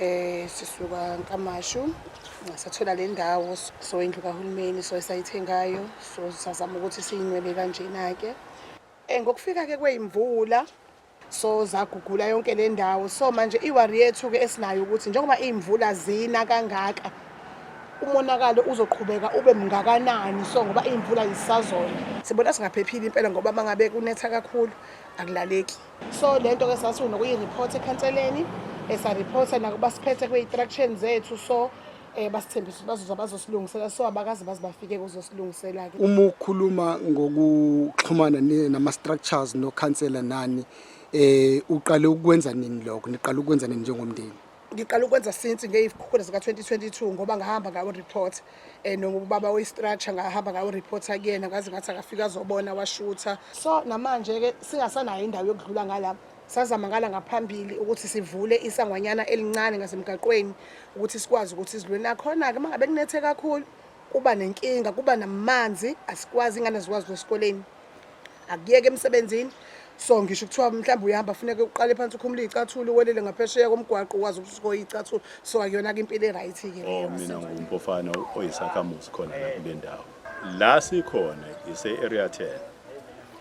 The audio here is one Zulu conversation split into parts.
Eh sisuka Nkamashu sathola le ndawo so indlu kahulumeni so esayithengayo so sazama ukuthi siyinwebe kanjena ke eh ngokufika ke kweyimvula so zagugula yonke le ndawo so manje iwari yethu ke esinayo ukuthi njengoba imvula zina kangaka umonakalo uzoqhubeka ube mngakanani so ngoba imvula yisazona sibona singaphephile impela ngoba mangabe kunetha kakhulu akulaleki so le nto ke sasiwunokuyi-report ekhanseleni esariphotha eh, nakuba siphethe kwi-instruction zethu so um eh, basithembisa ukuthi bazoza bazosilungisela so abakazi baze bafike kuzosilungisela-ke uma ukhuluma ngokuxhumana nama-structures nokhansela nani um uqale ukwenza nini lokho niqale ukwenza nini njengomndeni ngiqala ukwenza since ngeyikhukhula zika 2022 ngoba ngahamba ngawo report eh nobaba we structure ngahamba ngawo report akuyena ngaze ngathi akafika azobona washutha so namanje ke singasanayo indawo yokudlula ngala sazama ngala ngaphambili ukuthi sivule isangwanyana elincane ngasemgaqweni ukuthi sikwazi ukuthi sidlule nakhona ke mangabe kunethe kakhulu kuba nenkinga kuba namanzi asikwazi ingane zikwazi esikoleni akuyeke emsebenzini so ngisho kuthiwa mhlawumbe uyahamba funeka uqale phansi ukhumule iy'cathulo uwelele ngaphesheya komgwaqo ukwazi ukuthi usukoye iy'cathulo so akuyona-ke impilo e-right-ke Oh, mina ngumfofana oyisakhamuzi khona la kule ndawo la sikhona ise-area 10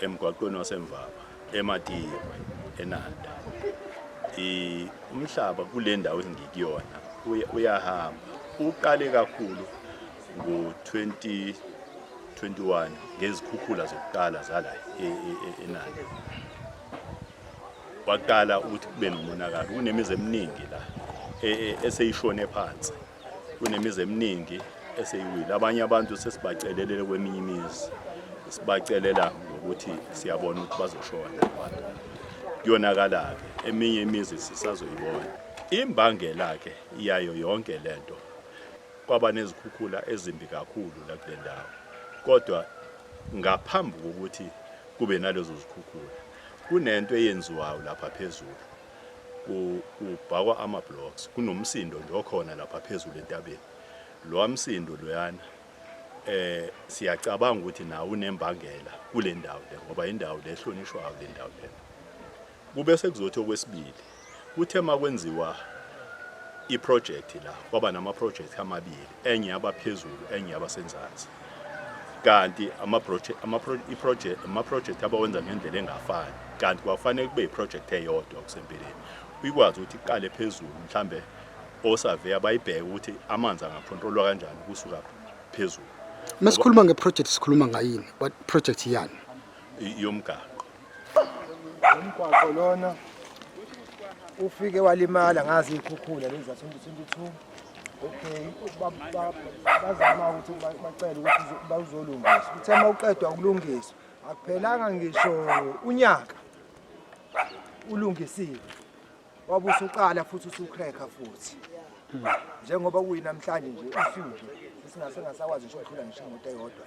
emgwaqweni wasemvaba ematiwe enanda I- umhlaba kule ndawo engikuyona uya- uyahamba uqale kakhulu ngo-2021 ngezikhukhula zokuqala zala e, e, e, enandi kwaqala ukuthi kube nomonakalo kunemizi eminingi la eseyishone phansi kunemizi eminingi eseyiwile abanye abantu sesibacelelele kweminye imizi sibacelela ngokuthi siyabona ukuthi bazoshona abantu kuyonakala-ke eminye imizi sisazoyibona imbangela-ke yayo yonke le nto Kwaba nezikhukhula ezimbi kakhulu la kule ndawo kodwa ngaphambi kokuthi kube nalezo zikhukhula kunento eyenziwayo lapha phezulu kubhakwa ama-blocks kunomsindo nje okhona lapha phezulu entabeni lowa msindo loyana eh siyacabanga ukuthi nawo unembangela kule ndawo le ngoba indawo le ehlonishwayo le ndawo lena Kube sekuzothi okwesibili kuthe makwenziwa iprojekthi la kwaba namaprojekthi amabili enye yabaphezulu enye yabasenzansi kanti amaprojekthi abawenza ngendlela engafani kanti kwakufanele kube yiprojekthi eyodwa kusempeleni ikwazi ukuthi iqale phezulu mhlambe osaveya bayibheke ukuthi amanzi angakhontrolwa kanjani kusuka phezulu masikhuluma ngeproject sikhuluma ngayini what project yani yomgaqo umgwaqo lona ufike walimala ngazi ikhukhula lezi za-2022 okay bazama ukuthi bacele ukuthi bawuzolungiswa kuthe uma uqedwa ukulungiswa akuphelanga ngisho unyaka ulungisiwe wabe usuqala futhi usucracker futhi njengoba kuyinamhlanje nje usuke singasengasakwazi ngisho ukudlula ngisho imoto eyodwa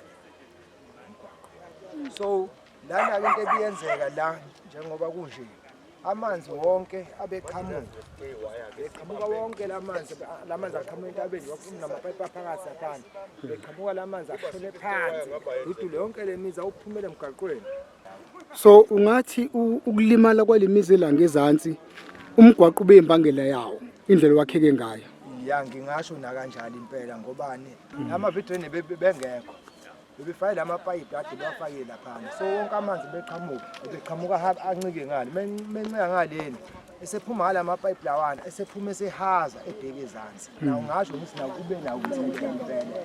so Lana ke into ebiyenzeka la njengoba kunje amanzi wonke abeqhamuka beqhamuka wonke lamanzi lamanzi aqhamuka entabeni wakuphuma namapayipi aphakathi aphansi beqhamuka lamanzi ashone phansi udule yonke lemizi awuphumele emgaqweni so ungathi ukulimala kwalemizi elanga ezantsi umgwaqo ube imbangela yawo indlela wakheke ngayo ya ngingasho nakanjalo impela ngobani ama video bengekho bebefake la mapayipi ade bafake laphana so wonke amanzi beqhamuka beqhamuka haba ancike ngale mencika ngaleni esephuma ngala mapayipi lawana esephuma esehaza ebheke ezansi hmm. nawo ngasho ngithi nawo kube nawo umthembele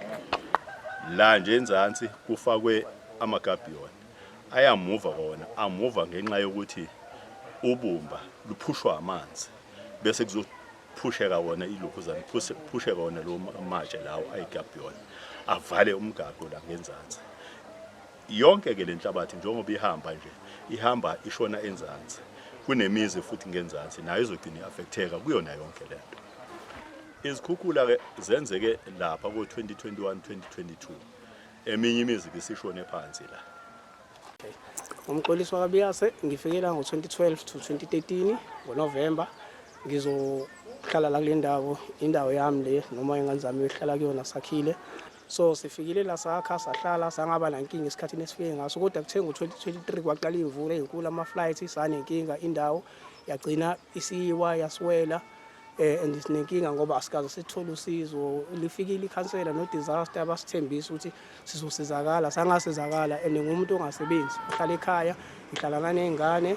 la nje enzansi kufakwe amagabiyona ayamuva kona amuva ngenxa yokuthi ubumba luphushwa amanzi bese kuzo phusheka wona ilokhuzana phusheka wona lo matshe lawo ayigabhiyona avale umgaqo la ngenzansi yonke ke le nhlabathi njengoba ihamba nje ihamba ishona enzansi kunemizi futhi ngenzansi nayo izogcina i-affecteka kuyona yonke le nto izikhukhula-ke zenzeke lapha ko-2021 2022 eminye imizi-ke isishone phansi la Umxolisi wakaBiyase ngifike la ngo-2012 to 2013 ngoNovemba ngizohlala la kule ndawo indawo yami le noma ingane zami yohlala kuyona sakhile so sifikile la sakha sahlala sangaba nankinga esikhathini esifike ngaso kodwa kuthe ngo-2023 kwaqala imvula ezinkulu ama-flight sanenkinga indawo yagcina isiyiwa yaswela eh and sinenkinga ngoba asikaze sithole usizo lifikile ikhansela no disaster basithembisa ukuthi sizosizakala sangasizakala and ngumuntu ongasebenzi uhlala ekhaya ngihlala naney'ngane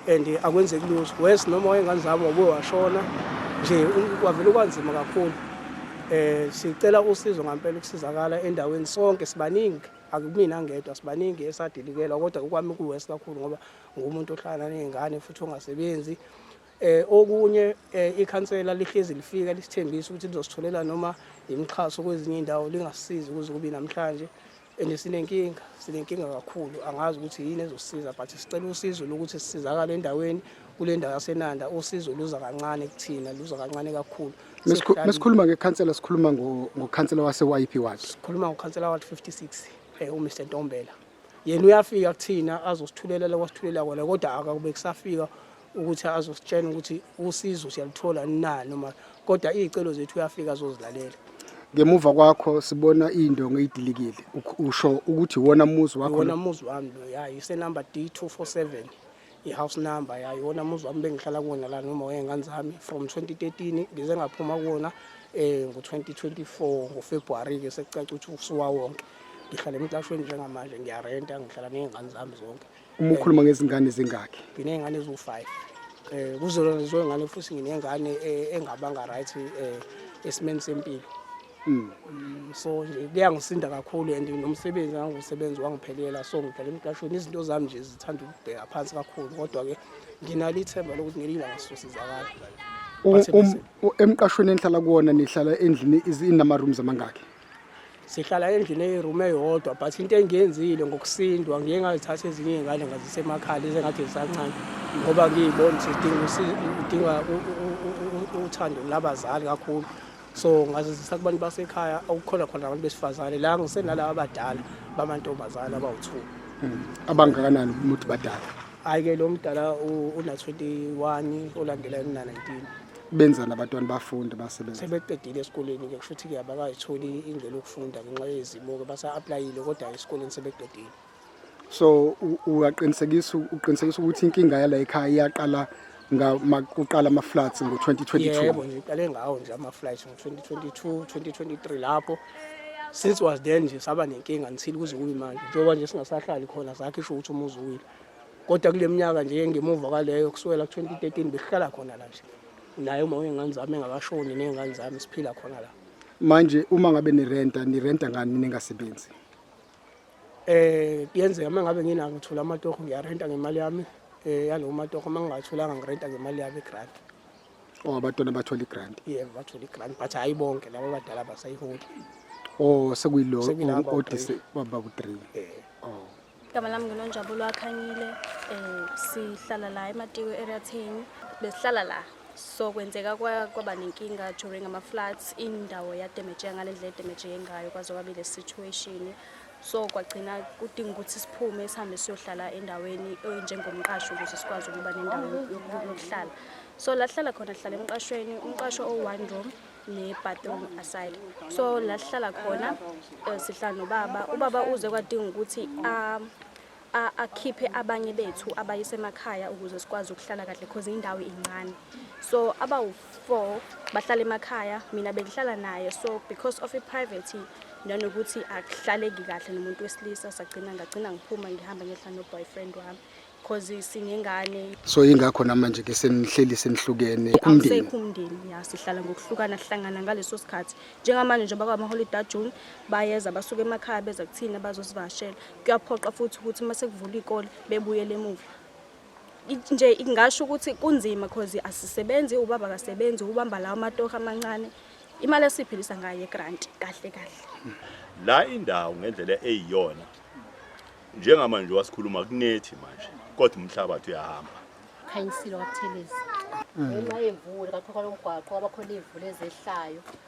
and akwenzeki lutho wes noma wayengane zami wabuye washona nje kwavele kwanzima kakhulu eh sicela usizo ngampela ukusizakala endaweni sonke sibaningi akumina ngedwa sibaningi esadilikelwa kodwa ukwami kuwesi kakhulu ngoba ngumuntu ohlala nezingane futhi ongasebenzi Eh okunye eh, ikhansela lihlezi lifika lisithembisa ukuthi lizositholela noma imixhaso kwezinye indawo lingasizi ukuze kube namhlanje and sinenkinga sinenkinga kakhulu angazi ukuthi yini ezosiza but sicela usizo lokuthi sisizakale endaweni kule ndawo yasenanda usizo luza kancane kuthina luza kancane kakhulu mesikhuluma ngekhansela sikhuluma ngokhansela wase-yp ward sikhuluma ngokhansela ward 56 um eh, umr ntombela yena uyafika kuthina azosithulelela kwasithulela kona kodwa akakube kusafika ukuthi azositshena ukuthi usizo siyaluthola na noma kodwa iy'celo zethu uyafika azozilalela ngemuva kwakho sibona iy'ndongo ey'dilikile usho ukuthi iwona muzi wakho wona muzi wami lo ya isenumber d 247 i-house number yayo wona muzi wami bengihlala kuwona la noma wey'ngane zami from 2013 ngize ngaphuma kuwona um eh, ngo-2024 ngofebruwari-ke sekucaca ukuthi usuwa wonke ngihlala emcashweni njengamanje ngiyarenta ngihlala ney'ngane zami zonke uma ukhuluma ngezingane zingakhi nginey'ngane eziwu-five um eh, kuzona lezoy'ngane futhi nginengane eh, engabanga right um esimeni sempilo Mm. Mm, so nje kuyangisinda kakhulu and nomsebenzi ngangiwusebenzi wangiphelela so ngidlala emqashweni izinto zami nje zithanda ukubheka phansi kakhulu kodwa-ke nginalo ithemba lokuthi ngelinye ilanga sizosizakala U- um- u- emqashweni enihlala kuwona nihlala endlini izi- inama-rooms amangaki sihlala endlini eyirumu eyodwa but into engiyenzile ngokusindwa ngiye ngazithatha ezinye iy'ngane ngazisemakhaya lezi engathi zisancane ngoba ngiyibona ukuthi zidinga usi- udinga u- u- u- u- uthando labazali kakhulu so ngazizisa kubantu basekhaya okukhona khona abantu besifazane la ngisenalaba abadala bamantombazane abawu-two hmm. abangakanani umuthi badala hhayi-ke lo mdala una-twenty-one olandela emna-nineteen benzani abantwana bafunde basebenza sebeqedile esikoleni-ke kusho ukuthi-ke abakayitholi indlela yokufunda ngenxa yezimo-ke basa-aplayile kodwa esikoleni sebeqedile so uyaqinisekisa uqinisekisa ukuthi inkinga yala ekhaya iyaqala ngamakuqala ama flats ngo 2022 yebo ngiqale ngawo nje ama flats ngo 2022 2023 lapho since was then nje saba nenkinga ngithile kuze kube manje njengoba nje singasahlali khona zakhe isho ukuthi umuzi uwile kodwa kule minyaka nje ngemuva kwaleyo kusukela ku 2013 besihlala khona la nje naye uma uyengane zami engakashoni nengane zami siphila khona la manje uma ngabe nirenta nirenta ngani ningasebenzi Eh kuyenzeka uma ngabe nginako ngithola amatoho ngiyarenta ngemali yami eh yalowo matoho uma ngingatholanga ngirenta ngemali yami grant. Oh abatwana bathola igrant. Yeah bathola igrant but hayi bonke laba badala abasayiholi. Oh sekuyilo odise baba ku 3. Eh. Oh. Igama lami nginonjabulo akhanyile eh sihlala la ematiko area 10 besihlala la so kwenzeka kwaba nenkinga during ama-floods indawo yademejeka ngale ndlela edemejeke ngayo kwaze kwabe le situation so kwagcina kudinga ukuthi siphume sihambe siyohlala endaweni enjengomqasho ukuze sikwazi ukuba nendawo yokuhlala so la sihlala khona sihlala emqashweni umqasho owu-one room ne-bathroom aside so la sihlala khona um sihlala nobaba ubaba uze kwadinga ukuthi um a akhiphe abanye bethu abayisemakhaya ukuze sikwazi ukuhlala kahle cause indawo incane so abawu-four bahlala emakhaya mina bengihlala naye so because of i-privacy nanokuthi akuhlaleki kahle nomuntu wesilisa sagcina ngagcina ngiphuma ngihamba ngehla no-boyfriend wami cause sinengane so ingakho namanje ke senihleli senihlukene umndeni awusekho umndeni ya sihlala ngokuhlukana sihlangana ngaleso sikhathi njengamanje njengoba kwamaholiday ajune bayeza basuke emakhaya beza kuthina bazosivakashela kuyaphoqa futhi ukuthi uma sekuvula ikole bebuyele emuva nje ingasho ukuthi kunzima because asisebenzi ubaba akasebenzi ubamba lawo matoha amancane imali esiphilisa ngayo egrant kahle kahle la indawo ngendlela eyiyona njengamanje wasikhuluma kunethi manje kodwa umhlabathi uyahamba khanyisile wabuthelezi ngenxa yemvula kakhokho lomgwaqo kwabakhona iy'mvula ezehlayo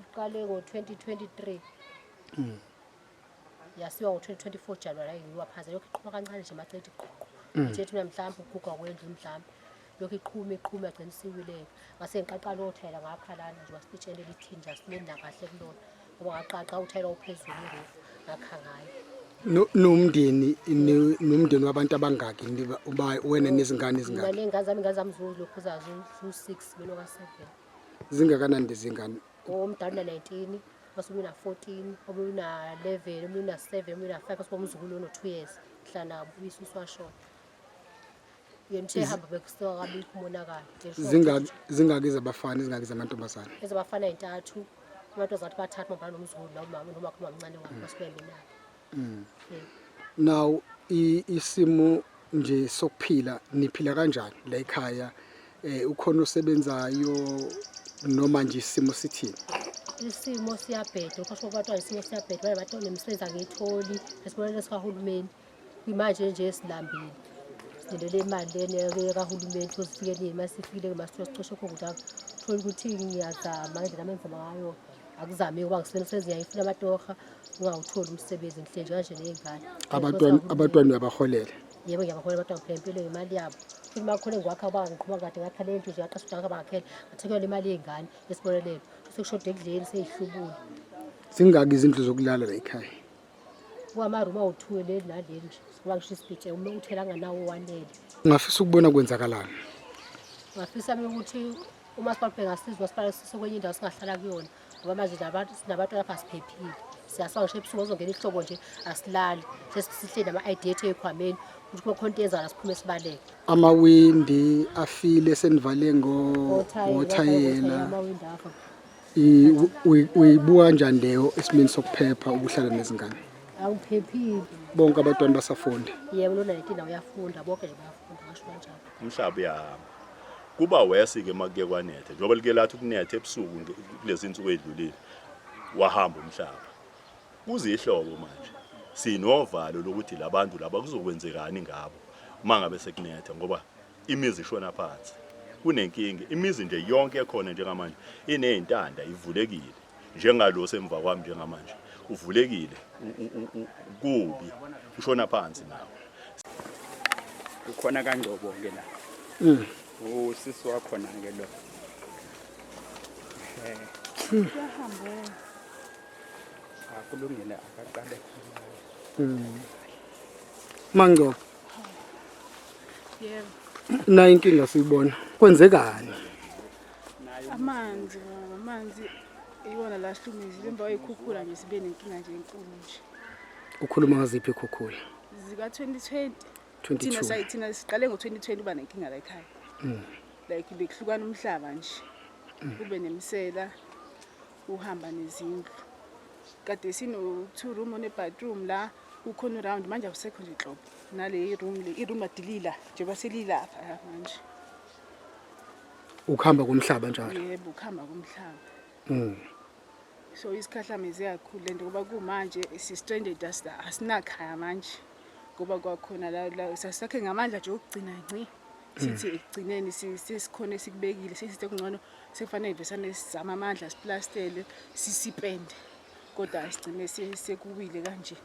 Uqale ngo-2023 mm. yasiwa ngo-2024 January ayi ngiwaphaza lokhu iqhuma kancane nje macethi qoqo mm. nje thina mhlawumbe uguga kwendlu mhlawumbe lokhu iqhuma iqhuma agcina isiwileka ngase ngiqaqa lowo thayela ngapha lana nje wasitshele lithi nje asimeni nakahle kulona ngoba ngaqaqa uthayela uphezulu irufu ngakha ngayo nomndeni nomndeni wabantu abangaki uba wena nezingane ezingaki ngane ngazami ngazami zulu lokhu zazo 6 belo ka 7 zingakanani lezingane omdala una-19 osuke una-14 omunye una-11 omunye una-7 omunye una-5 osuke umzukulu ono-2 years hlanabo uyisusu washona yena uthe hamba bekusuka kabikho umonakalo zingaki zabafana izingaki zamantombazane ezabafana yintathu abantu azathi bathatha mabhala nomzukulu nomama nomakho mamncane wabo basuke mina mm. now isimo nje sokuphila niphila kanjani la ekhaya eh ukhona osebenzayo noma nje isimo sithini isimo siyabheda ukhosho kwathiwa isimo siyabheda baye bathi nemisebenzi angiyitholi esibonelo sikahulumeni kwimanje nje esilambile silindele imali lena kahulumeni sozifike nini uma sifikile-ke masithiwa sicoshe khona ukuthi thola ukuthi ngiyazama ngendlela amenza ngayo akuzame ukuba ngisibona senze yayifuna amatoha ungawutholi umsebenzi ngihle nje kanje ney'ngane Abantwana abantwana uyabaholela. yebo ngiyabahola abantwana ngiphela impilo yemali yabo futhi uma kukhona engiwakha uba ngiqhuba kade ngakhala endlu nje ngaqasha udaka bangakhela ngathekelwa imali yey'ngane yesibonelelo sekushoda ekudleni seyihlubule Zingaki izindlu zokulala la ekhaya? Kwamaruma uthuwe le nale nje. Ngoba ngisho isibhithe uma uthela nganawo wanele. Ngafisa ukubona kwenzakalani. Ngafisa mina ukuthi uma sibabhe ngasizwa sibale sisokwenye indawo singahlala kuyona. Ngoba manje nabantu sinabantu lapha siphephile. Siyasawa ngisho ebusuku ozongena ihlobo nje asilali. Sesihle nama ID ethu ekhwameni. Ukuthi uma khona into yenzala siphume sibaleke. Amawindi afile senivale ngo Othayela, othayela. amawindi afa. uyibuka kanjani leyo esimeni sokuphepha ukuhlala nezingane awuphephile bonke abantwana basafunde yebo lona letina uyafunda bonke nje bayafunda ngasho kanjalo umhlaba uyahamba kuba wesi ke makuke kwanethe njengoba like lathi ukunethe ebusuku nge- kulezi nsuku edlulile wahamba umhlaba kuzihlobo manje sinovalo lokuthi labantu laba kuzokwenzekani ngabo mangabe sekunetha ngoba Imizi ishona phansi. Kunenkinga. Imizi nje yonke ekhona njengamanje inezintanda ivulekile. Njengalo semva kwami njengamanje uvulekile kubi ushona phansi nawo. Ukhona kaNgcobo ke la. Mm. Usisi wakhona ke lo. Eh. Yahamba. Akulungile akaqale. Mm. Mangcobo nayo inkinga siyibona kwenzekani amanzi amanzi iwona la sihlumizile emva kwayikhukhula nje sibe nenkinga nje enkulu nje ukhuluma ngaziphi ikhukhula zika-2020 thina sayi thina siqale ngo-2020 uba nenkinga la ekhaya mm. like bekuhlukana umhlaba nje mm. kube nemisela uhamba nezindlu kade sino-two room one-bathroom la ukhona uround manje awusekho nje nhlobo nale iroom le iroom adilila njengoba selilapha la manje ukuhamba komhlaba njalo yebo ukuhamba komhlaba mm so isikhahlame ziyakhulu lento ngoba kumanje si stranded asinakhaya manje ngoba kwakhona la la sasakhe ngamandla nje okugcina nci sithi mm. ekugcineni sesikhona esikubekile sesithi kungcono sekufanele ivesane sizama amandla siplastele sisipende kodwa sigcine sekuwile kanje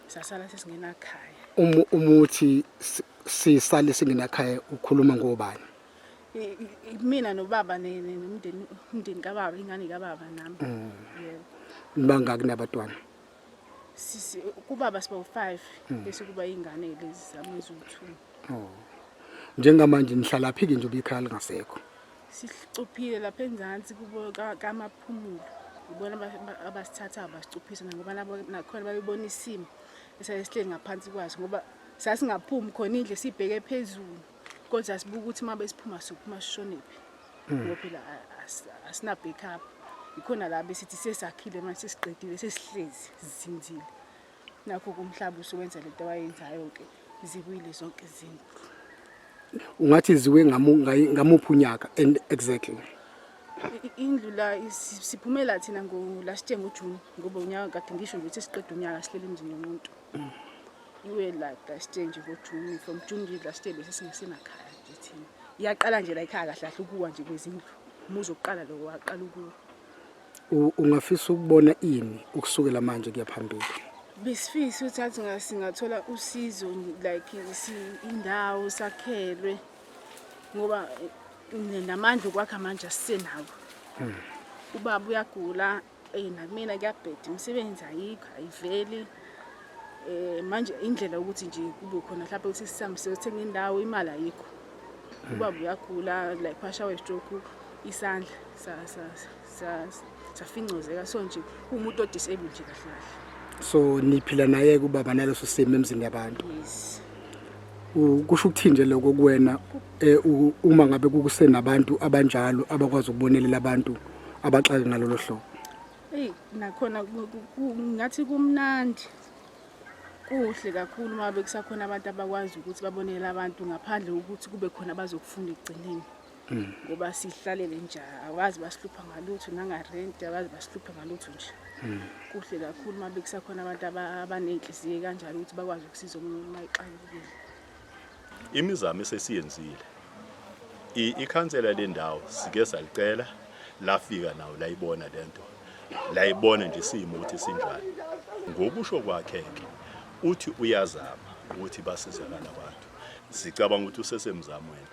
sasala sesingenakhaya uma umuthi sisale singenakhaya ukhuluma ngobani mina nobaba nomndeni umndeni kababa ingane kababa nami mm. yebo nibangaki nabatwana sisi kubaba siba u5 mm. bese kuba ingane lezi zamezuthu oh njengamanje nihlala phi ke nje ubikhaya lingasekho Sicuphile lapha enzansi kubo kamaphumulo ibona abasithathayo basicuphise ngoba nakhona babebona isimo esayesihleli ngaphansi kwaso ngoba sasingaphumi khona indle sibheke phezulu kodwa sibuka ukuthi uma besiphuma sophuma sishonephi hmm. ngoba phela asina-backup yikhona la besithi sesakhile manje sesiqedile sesihlezi sizinzile nakho kumhlaba usuwenza lento wayenzayo ke ziwile zonke izinto ungathi ziwe ngamuphi unyaka and exactly indlu la siphumela thina ngo last year ngoJune ngoba unyaka kade ngisho nje ukuthi siqeda unyaka sihlele emzini yomuntu iwe la last year nje ngoJune from June nje last year bese singesenakhaya nje thina iyaqala nje la ikhaya kahle kahle ukuwa nje kwezindlu umuzi oqala lo waqala ukuwa Ungafisa ukubona ini ukusukela manje kuya phambili? Besifisa ukuthi athi ngasingathola usizo like indawo sakhelwe ngoba eh, namandla okwakha manje asisenawo. Hmm. Ubaba uyagula eh nakumina kuyabheda imisebenzi ayikho ayiveli. Eh manje indlela ukuthi nje kube khona mhlawumbe ukuthi sihambe siyothenga indawo imali ayikho. Hmm. Ubaba uyagula like washawa stroke isandla sasasa. safingcozeka so nje umuntu odisable nje kahle kahle so niphila naye kubaba naleso simo emzini yabantu yes kusho ukuthini nje lokho kuwena eh, uma ngabe kukusenabantu abanjalo abakwazi ukubonelela abantu abaxake ngalolo hlobo eyi nakhona ngathi kumnandi kuhle kakhulu uma bekusakhona abantu abakwazi ukuthi babonele abantu ngaphandle kokuthi kube khona abazokufunda ekugcineni ngoba sihlalele nje awazi basihlupha ngalutho nangarenti awazi basihlupha ngalutho nje kuhle kakhulu uma bekusakhona abantu abaney'nhliziyo kanjalo ukuthi bakwazi ukusiza omunye uma ixakekile imizamo esesiyenzile ikhansela lendawo sike salicela lafika nawo layibona lento layibona nje simo ukuthi sinjani ngokusho kwakhe ke uthi uyazama ukuthi basizakala abantu sicabanga ukuthi usesemzamweni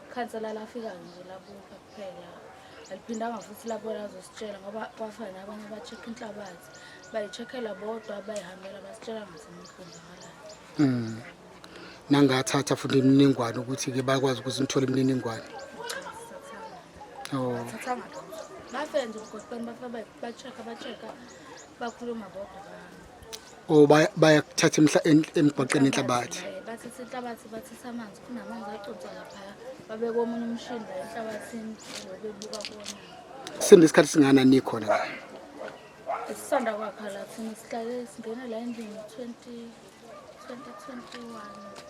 Khansela lafika nje labuka kuphela aliphindanga futhi labona azositshela ngoba kwafana abanye ba-check inhlabathi bayi-checkela bodwa bayihambela basitshela ngasemaqondakalayo mm. nangathatha futhi imininingwane ukuthi-ke bakwazi ukuthi nithole imininingwane oh. bafenze ugoqeni bafa ba-check ba-check bakhuluma bodwa Oh bayakuthatha emhla emgwaqeni inhlabathi. Bathatha inhlabathi bathatha amanzi kunamanzi acotha lapha. Babeka omunye umshini la enhlabathini bebuka kona. Sinde isikhathi singana nikhona la. Isisanda kwakha la thina sihlale singena la endlini 20 2021.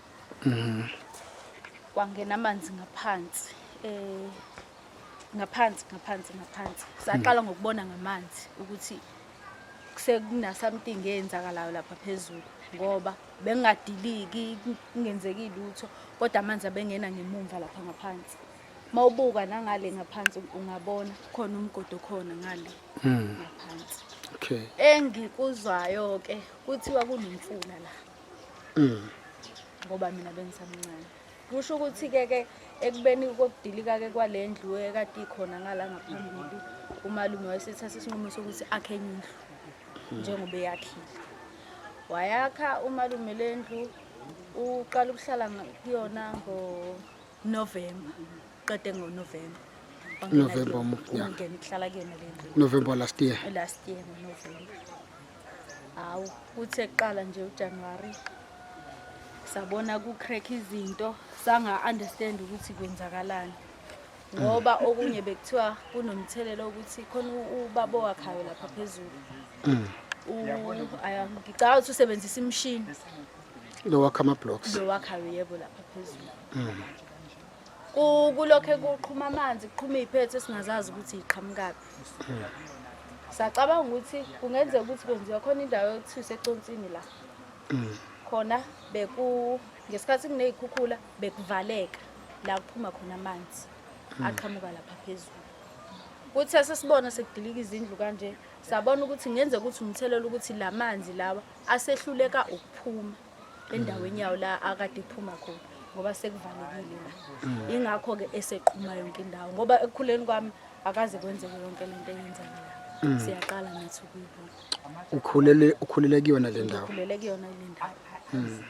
mm. kwangena amanzi ngaphansi eh ngaphansi ngaphansi ngaphansi saqala mm. ngokubona ngamanzi ukuthi sekuna something eyenzakalayo lapha phezulu ngoba bengingadiliki kungenzeki lutho kodwa amanzi abengena ngemumva lapha ngaphansi mawubuka nangale ngaphansi ungabona khona umgodo khona ngale hmm. ngaphansi okay engikuzwayo ke kuthiwa kunomfula la mm. ngoba mina bengisamncane kusho ukuthi-ke ke ekubeni kokudilika-ke kwale ndlu ekade ikhona ngala ngaphambili umalume wayesethatha isinqumo sokuthi akhe enye indlu hmm. njengoba eyakhile wayakha umalume le ndlu uqala ukuhlala kuyona November qede ngo November November umnyaka ngene kuhlala kuyena le ndlu November last year last year ngo November hawu kuthe kuqala nje uJanuary sabona ku crack izinto sanga understand ukuthi kwenzakalani ngoba mm. okunye bekuthiwa kunomthelela ukuthi khona ubaba wakhayo lapha phezulu mm. ngicabanga ukuthi usebenzisa imishini lowakha ama-blocks lowakhayo yebo lapha phezulu mm. kulokhe kuqhuma amanzi kuqhuma iy'phetho esingazazi ukuthi yiqhamukaphi mm. sacabanga ukuthi kungenzeka ukuthi kwenziwa khona indawo yokuthiwa iseconsini la mm. khona beku ngesikhathi kuney'khukhula bekuvaleka la kuphuma khona amanzi aqhamuka lapha phezulu kuthi sesibona sekudilika izindlu kanje sabona ukuthi ngenzeka ukuthi umthelela ukuthi la manzi lawa asehluleka ukuphuma endaweni yawo la akade iphuma khona ngoba sekuvalekile la mm. ingakho ke eseqhuma yonke indawo ngoba ekukhuleni kwami akaze kwenzeke yonke lento eyenzeka la mm. siyaqala nathi ukuyibona ukhulele ukhulele kuyona le ndawo ukhulele kuyona le ndawo mm.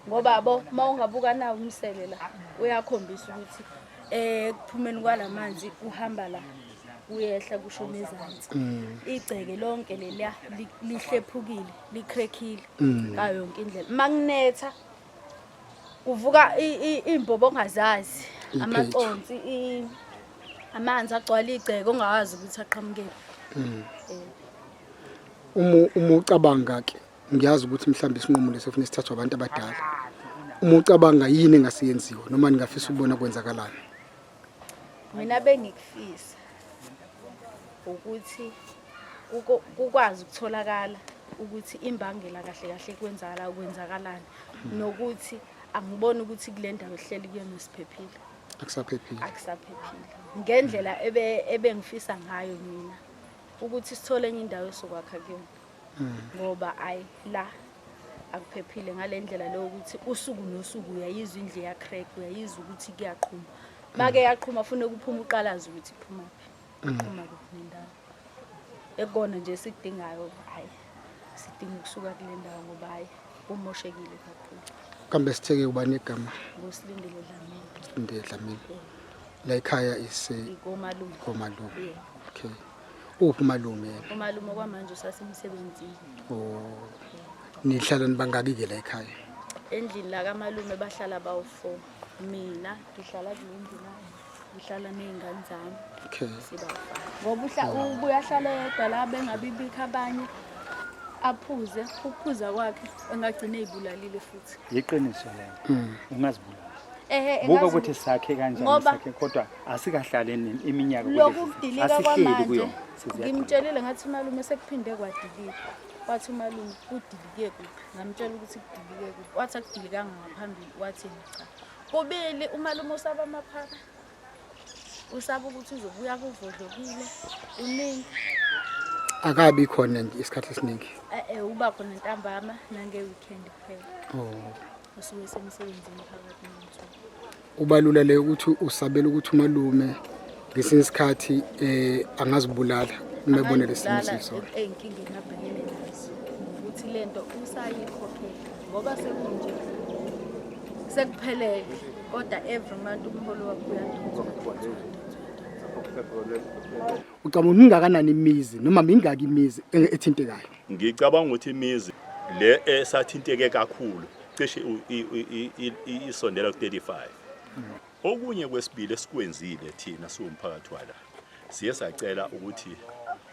ngoba bo uma ungabuka nawo umsele la uyakhombisa ukuthi eh kuphumeni kwalamanzi uhamba la uyehla kusho nezansi mm. igceke lonke leliya lihlephukile likhrekhile mm. ngayo yonke indlela makunetha kuvuka imbobo ongazazi amaconsi amanzi agcwala igceke ongawazi ukuthi aqhamukele mm. eh. uma ucabanga ke ngiyazi ukuthi mhlawumbe isinqumo lesi kufanele sithathwe abantu abadala uma ucabanga yini engasiyenziwa noma ningafisa ukubona kwenzakalani mina bengikufisa ukuthi kukwazi ukutholakala ukuthi imbangela kahle kahle kwenzakala kwenzakalani nokuthi angiboni ukuthi kule ndawo ehleli kuyona siphephile akusaphephile akusaphephile ngendlela ebengifisa ngayo mina ukuthi sithole enye indawo esokwakha kuyona ngoba ayi la akuphephile ngale ndlela leyo ukuthi usuku nosuku uyayizwa indle yacrack uyayizwa ukuthi kuyaqhuma make yaqhuma fune kuphuma uqalaza ukuthi iphuma phi iqhuma kuphi nendawo ekona nje sikudingayo hayi sidinga ukusuka kule ndawo ngoba hayi kumoshekile kakhulu kambe sitheke uba negama ngusilindele dlamini sithinde dlamini la ekhaya ise ikomalume komalume okay Uphi umalume yena? Umalume kwamanje usasemsebenzini. Oh. Nihlala nibangaki ke la ekhaya? Endlini la kamalume bahlala bawu-4. Mina ngihlala kule ndlu la. Ngihlala nezingane zami. Okay. Sibawu-5. Ngoba uhla ubuye ahlale yedwa la bengabibikho abanye. Aphuze, ukuphuza kwakhe engagcina ezibulalile futhi. Yiqiniso lelo. Ungazibulala. Ehhe Buka engazi- ukuthi sakhe kanjani ngoba sakhe kodwa asikahlale nini iminyaka lokudilika kwamanje ngimtshelile ngathi umalume sekuphinde kwadilika wathi umalume kudilike kuphi ngamtshela ukuthi kudilike kuphi wathi akudilikanga ngaphambili wathi cha kubili umalume usaba amaphara usaba ukuthi uzobuya kuvodlokile uningi akabi khona nje isikhathi esiningi eh, eh uba khona ntambama nange weekend kuphela oh usuke semsebenzini phakathi nomthu Kubalula le ukuthi usabela ukuthi umalume ngesinye isikhathi eh angazibulala uma ebona lesimo sisona. Eyinkinga engabhekene nazo ukuthi lento usayikhokhela ngoba sekunje sekuphelele kodwa every month umholo wakho uyandonsa. Ucabanga ukuthi mingakanani imizi noma mingaki imizi e- ethintekayo? Ngicabanga ukuthi imizi le esathinteke kakhulu cishe isondela ku-35 okunye kwesibili esikwenzile thina siwumphakathi wala siye sacela ukuthi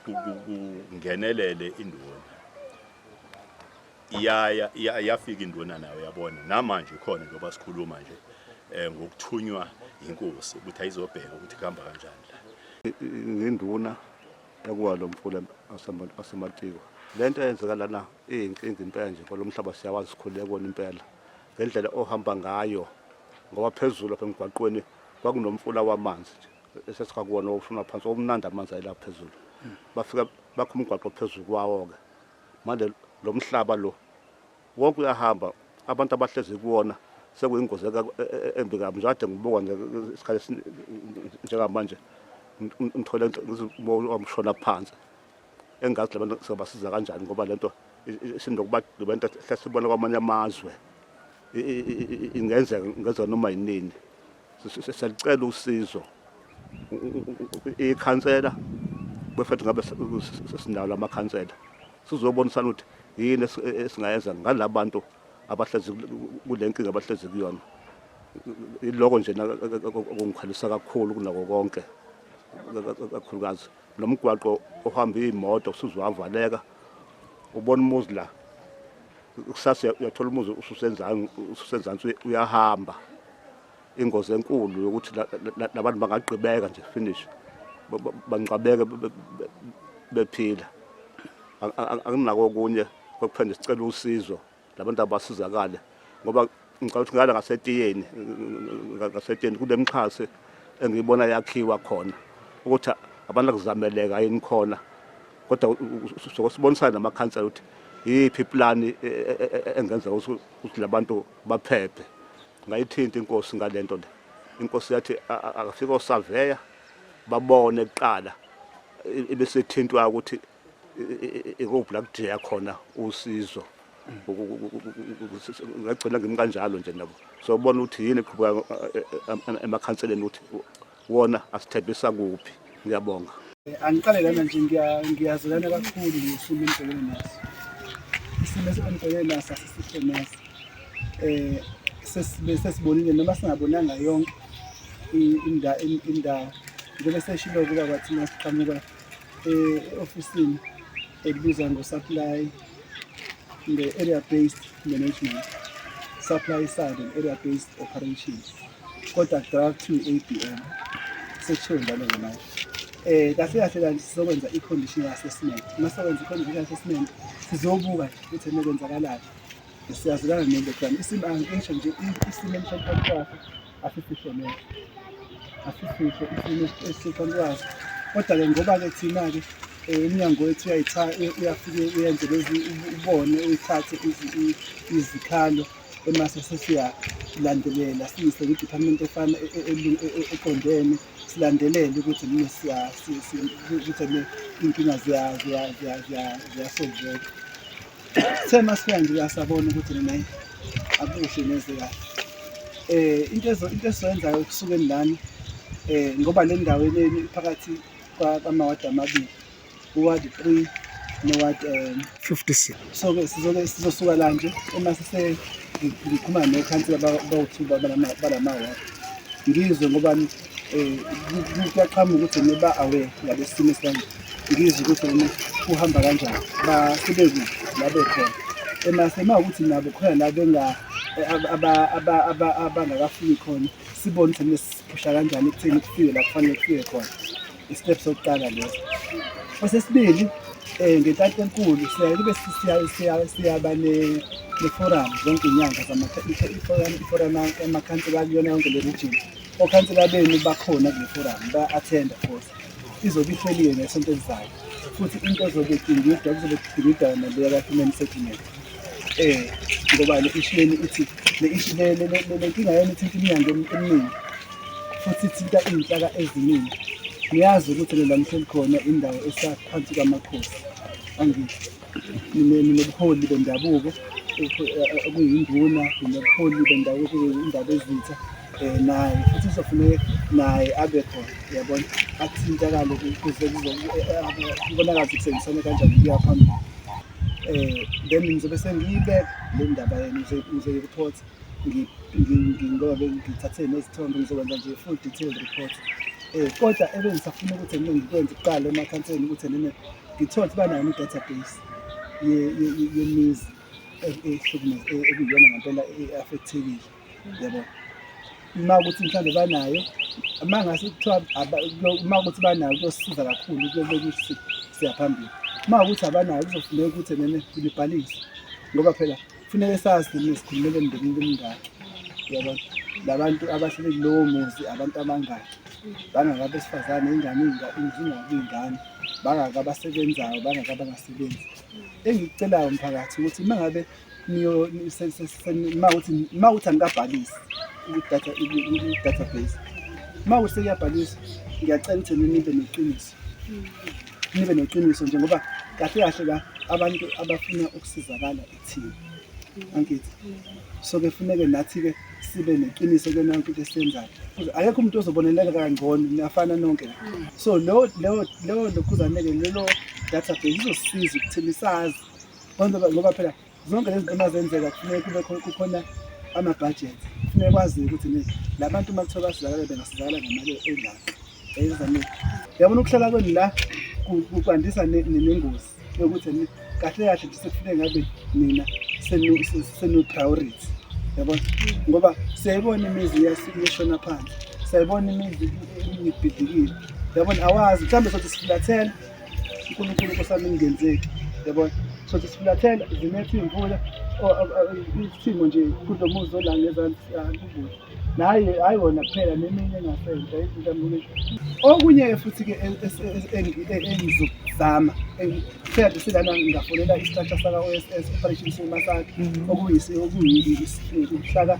kungenelele induna iyaya yafika induna nayo yabona namanje khona njengoba sikhuluma nje um ngokuthunywa yinkosi ukuthi ayizobheka ukuthi kuhamba kanjani la ngenduna ekuwa lo mfula asematiko le nto eyenzeka lana iyinkinga impela nje kwalo mhlaba siyawazi sikhulule kona impela ngendlela ohamba ngayo ngoba phezulu apha emgwaqweni kwakunomfula wamanzi nje esesikakuwona owushona phansi omnandi amanzi ayela phezulu bafika bakho umgwaqo phezulu kwawo-ke manje lo mhlaba lo Wonke uyahamba abantu abahlezi kuwona sekuyingozi e, e, embi kabi nje kade ngibuka nje isikhathi njengamanje ngithole wamshona phansi engazi labantu sobasiza kanjani ngoba lento sinokuba lento hlesibona kwamanye amazwe ingenzeka ngezona noma yinini Sicela usizo ikhansela befethu ngabe sinalo amakhansela sizobonisana ukuthi yini esingayenza ngalabantu abahlezi kule nkinga abahlezi kuyona iloko nje okungikhalisa kakhulu kunako konke kakhulukazi Lo mgwaqo ohamba iy'moto usuze wavaleka ubona umuzi la kusasa uyathola umuzi ususenzansi ususenzansi uyahamba ingozi enkulu yokuthi labantu bangagqibeka nje finish bangcwabeke bephila anginako okunye kokuphendula sicela usizo labantu abasizakale ngoba ngicabanga ukuthi ngala ngasetiyeni ngasetiyeni kunemixhase engiyibona yakhiwa khona ukuthi abantu akuzameleka yini khona kodwa sokusibonisana namakhansela ukuthi yiphi iplani e, e, e, engenza ukuthi labantu baphephe ngayithinta inkosi ngalento le inkosi yathi akafika osaveya babone kuqala ebesethintwa ukuthi ikuphi la kudingeka khona usizo ngagcina ngimi kanjalo nje nabo so ubona ukuthi yini eqhubeka eh, eh, eh, emakhanseleni ukuthi wona asithembisa kuphi ngiyabonga angiqale lana nje ngiyazilana kakhulu ngesimo engibhekene naso isimo engibhekene naso asisihle naso um sesibonile noma singabonanga yonke indawo njengoba seshilo kuba kwathina siqhamuka e-ofisini elibiza ngo-supply nge-area based management supply side and area based operations kodwa draft to ABM sekushiwo njalo ngemanje eh kahle kahle kanti sizokwenza i-condition assessment uma sokwenza i-condition assessment sizobuka ukuthi nekwenzakalayo siyazilana nento plan isimo angisho nje isimo emhlophe asisihle neze asisihle isimo esiqondwazi kodwa-ke ngoba-ke thina-ke um umnyango wethu uyafike uyenze lezi ubone uyithathe izikhalo emase sesiyalandelela siyise kwi-department efana e, e, e, eqondene silandelele ukuthi nini ukuthi inkinga ziyasolveka Sithe masifika nje uyasabona ukuthi nina akuhle neze kahle. Eh into ezo into esiyenzayo kusukeni lana eh ngoba le ndawo yenu iphakathi kwamawadi amabili uward 3 noward um 56 so ke sizoke sizosuka la nje uma sise ngikhuluma nekhansela bawuthuba balama balama ngizwe ngoba um kuyaqhama ukuthi niba awe ngabesimo esibanje ngizwe ukuthi wena kuhamba kanjani basebekuphi la bekhona emase uma ukuthi nabo khona la benga abangakafiki khona sibone ukuthi nesiphusha kanjani ekutheni kufike la kufanele kufike khona istep sokuqala leso osesibili um eh, ngentatha enkulu siyaye kube siyaba neforum zonke iy'nyanga iforum amakhansi bakuyona yonke le region okhansela benu bakhona kule forum ba-athenda futhi izobe ihleliwe ngesonto elizayo futhi into ezobe idingidwa kuzobe kudingidwa naleya ka-human settlement um ngoba le ishu leni ithi le ishu le nkinga yenu ithinta iminyango eminingi futhi ithinta iy'nhlaka eziningi niyazi ukuthi nela mhleli khona indawo esaphansi kwamakhosi angithi nobuholi bendabuko okuyinduna nobuholi bendabuko okuyindaba ezitha um naye futhi kuzofuneke naye abe khona yabona athintakale ukuze kubonakala ukuthi kusebenzisane kanjani kuya phambili um then ngizobe sengiyibeka le ndaba yena ngizoyirephotha ngingobe ngithathe nezithombe ngizokwenza nje full detailed report um kodwa ebengisafuna ukuthi mina ngikwenze kuqala emakhanseni ukuthi nene ngithole ukuthi banayo ne-database yemizi ekuyiyona ngempela e-affectekile yabo uma ukuthi mhlawumbe banayo uma ngase kuthiwa uma ukuthi banayo kuyosiza kakhulu kuyokuthi siyaphambili uma ukuthi abanayo kuzofuneka ukuthi nene nibhalise ngoba phela kufuneke sazi thina sikhulumele emndenini bemingaki yabo labantu abahlele kulowo muzi abantu abangaki bangaka besifazane ingane izingaki ingane bangaka abasebenzayo bangaka abangasebenzi engikucelayo mphakathi ukuthi uma ngabe uma ukuthi angikabhalisi i-database uma ukuthi sekuyabhaliswa ngiyacela ukuthi ninibe neqiniso hmm. nibe neqiniso nje ngoba kahle kahle ka abantu abafuna ukusizakala ithina angithi so ke funeke nathi ke sibe neqiniso kuyona yonke into esiyenzayo akekho umuntu ozoboneleka kangcono niyafana nonke so leyo leyo leyo lokhuzane-ke lelo database izosisiza ukuthini sazi ngoba phela zonke lezi zinto mazenzeka kufuneka kube khona kukhona ama-budget kufuneka kwaziwe ukuthi ni la bantu uma kuthiwa basizakale bengasizakala ngemali engaka eyizamile yabona ukuhlala kwenu la ku- ku- kwandisa ne- ne- nengozi yokuthi ni kahle kahle nje sekufuneka ngabe nina senu- se- senu-priority yabona ngoba siyayibona imizi iyas- iyashona phansi siyayibona imizi ibhidlikile yabona awazi mhlawumbe sothi sifulathela uNkulunkulu nkosami ingenzeki yabona so sifulathela zinetha iy'mvula isimo nje kulo muzi olanga ezansi siyakubuza naye hayi wona kuphela neminye engasenza izinto ambuke okunye-ke futhi-ke engizokuzama ngithanda silana ngafonela isitratsha saka-o s s operation sima sakhe mhm. okuyihlaka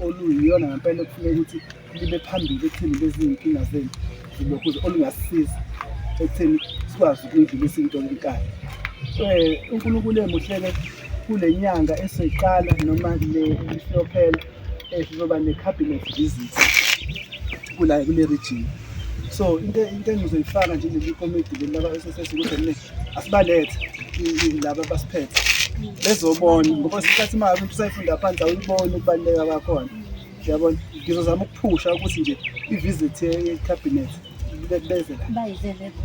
oluyiyona ngempela okufuneka ukuthi libe phambili ekutheni lezi iy'nkinga zenu zibekuze olungasisiza ekutheni sikwazi ukuyidlulisa into enkani um eh, unkulunkulu emuhleke kule nyanga esoyiqala noma le isiyophela um eh, sizoba ne-cabinet visit kula kule region so into into engizoyifaka nje leli komidi leli laba esesesi ukuthi mina asibalethe laba basiphethe bezobona ngoba isikhathi uma ngabe usayifunda phansi awuyiboni ukubaluleka kwakhona yabona ngizozama ukuphusha ukuthi nje i-visit ye-cabinet beze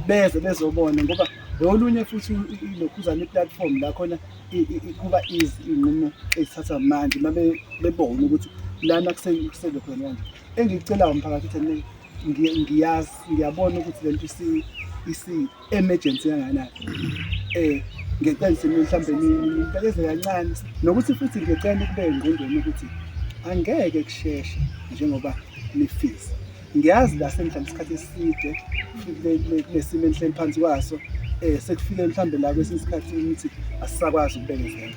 beze bezobona ngoba lolunye futhi ilokhuzana i-platform la khona kuba easy iy'nqumo ezithathwa manje uma bebona ukuthi lana kusele khona kanje engikucelayo mphakathi ukuthi ngiyazi ngiyabona ukuthi le nto emergency kangakanani eh ngicela simi mhlambe nibeleze kancane nokuthi futhi ngicela ukube engqondweni ukuthi angeke kusheshe njengoba nifisa ngiyazi la sengihlala isikhathi eside kulesimo enhleli phansi kwaso eh sekufike mhlambe la kwesinye isikhathi ukuthi asisakwazi ukubekezela